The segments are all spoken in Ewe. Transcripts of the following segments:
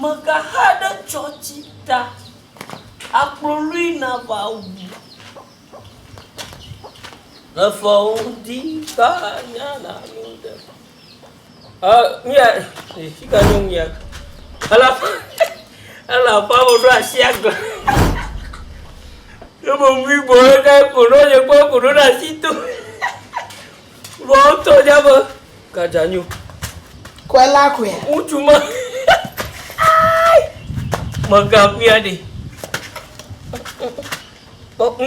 Megaxa ɖe tsɔtsi ta. Akpolui na va wu. Le fɔwo ŋuti ta nya na nu ɖe. Ɔ nu ya e fi ka nu ya. Ela ela fa wo ɖo asi agla. Yo mo mi bo ɖe ko ɖo ye ko ko ɖo asi to. Vɔ wotɔ ɖe be gadza nyo. Kɔe la kɔe. Ŋutsu ma. Mega kuya ɖe.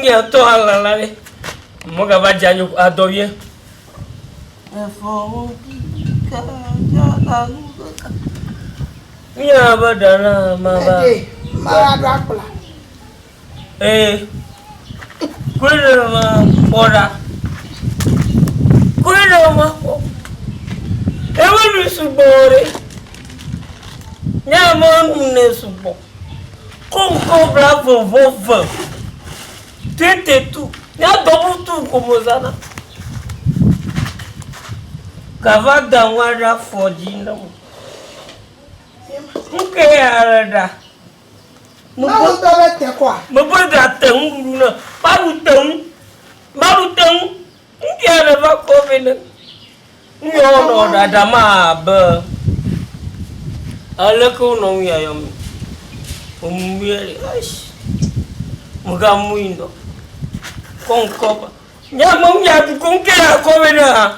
Ŋya tɔ ala la ɖe. Mega va dza nyo adɔ wie. Efɔ wo bi ka dza alu ka. Ŋya be ɖana ma ba. Mara ɖo akpla. Ẽ, kloe ɖe eme kpɔ ɖa. Kloe ɖe eme kpɔ. Eme ɖui sugbɔ o ɖe. Ne eme nu nɛ sugbɔ. Ko ŋkɔ bla vɔvɔ ve. Tete tu. Ne double tu ko me zana. Gava da ŋua ɖe afɔ dzi na me. Nuke ya le ɖa? Mawu dɔ le te kɔa? Mebɔe ɖa te ŋu ɖuɖu na. Maɖu te ŋu. Maɖu te ŋu. Ŋkɛ ne va kɔ vɛ ne. Ŋyɔ wo nɔ ɖaɖa ma be. Aleke wo nɔ ŋu ya yɔ mi? O mu mi ya li. Eish. Mo ga mu yi nɔ. Kɔ ŋkɔ ba. Nya me ŋu ya ɖu ko ŋkɛ ya kɔ vɛ ne ha.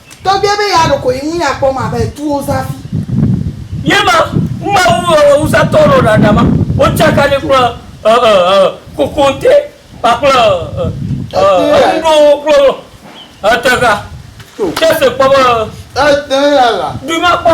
Tɔgbe be ya ɖoko yi ŋu ya kpɔ ma be tu wo zafi. Ye ma, Mawu ɔɔ ŋusatɔ ɔɔ ɖaɖa ma, wo tsaka ni kple ɔɔ kokonte kpakple ɔɔ enuɖowo kple ɔɔ etexa. Ke se kpɔ be ɔɔ du ma kpɔ.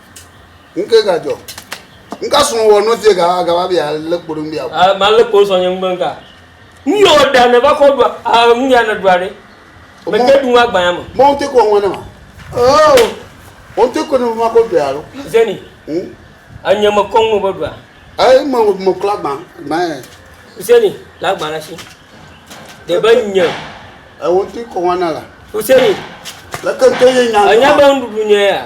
Nke gadzɔ. Nka srɔ̃ wɔ nɔ sie ga ga va bia le kpo ɖe bia. Ah ma le kpo sɔ nye ngbe nka. Nyo da ne va kɔ dua. Ah nu ya ne dua ɖe. Me te du ma gbanya me. Mo te ko ngone ma. Oh. O te ko ne ma ko dua alo. Zeni. Hmm. Anye me kong no bo dua. Ai mo mo kla gba. Ma. Zeni, la gba na shi. De be nye. E o te ko ngona la. Useni. La kan te ye nya. Anya ba ndu nya ya.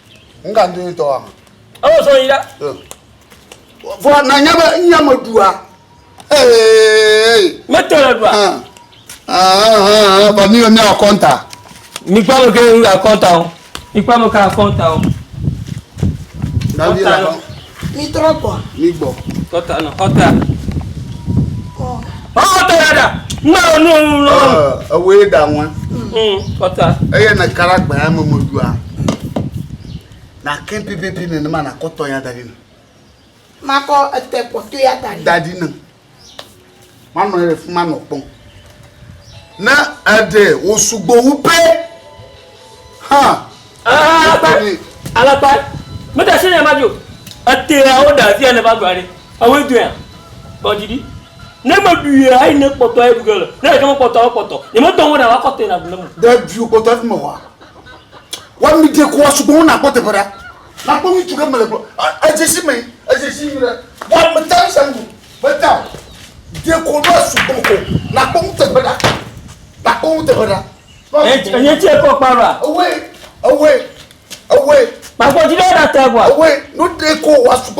N ka ŋdɔ tɔ wa. Ewɔ sɔ yi la. Vɔ na nya bɛ n nya me ɖua. Ee. Me tɔ le ɖua. Ba mi bɛ mi a kɔnta. Mi kpa me ke a kɔnta o. Mi kpa me ke a kɔnta o. Na mi la kɔnta. Mitrɔ gbɔ. Migbɔ. Kɔta nɔ kɔta. Ɔkɔta ya da. Ŋmɛ o nu nu lɔ. Ewe ye da ŋue. Kɔta. Eye ne kala gbɛ ya me mɔdua. Na kɛ pipipi ne ne ma na kɔtɔ ya da di ne. Makɔ ete kɔtɔ ya da di. Da di ne. manɔ anyi ɖe fi ma nɔ kpɔm ne eɖe wòsugbɔ wu pɛ hã. alakpa mete se nya ma dzo eteawo ɖe afi ya ne va gblɔ ɖi ewoe doe ya kpɔ dzi ɖi ne meɖuia eyi ne kpɔtɔ eɖu ge le ne ɖeke mekpɔtɔ ekpɔtɔ nyemedɔ wo na woakɔ tena ɖu ne me. ɖe ɖui kpɔtɔ efi me wa wami ɖe ko wa sugbɔ wo na kpɔ teƒe ɖa. Nakpɔ ŋutsu ɖe mele gblɔ. Edze si me, edze si nyuie ɖe. Wa me ta ŋusem ko. Me ta. De ko ɖo asu ko ko. Nakpɔ ŋutsu egbe ɖa. Nakpɔ ŋutsu egbe ɖa. Enye tse kɔ kpa ɖa. Ewe, ewe, ewe. Kpakpɔ ti ɖe ɖa tɛ gba. Ewe, no de ko wa su ko.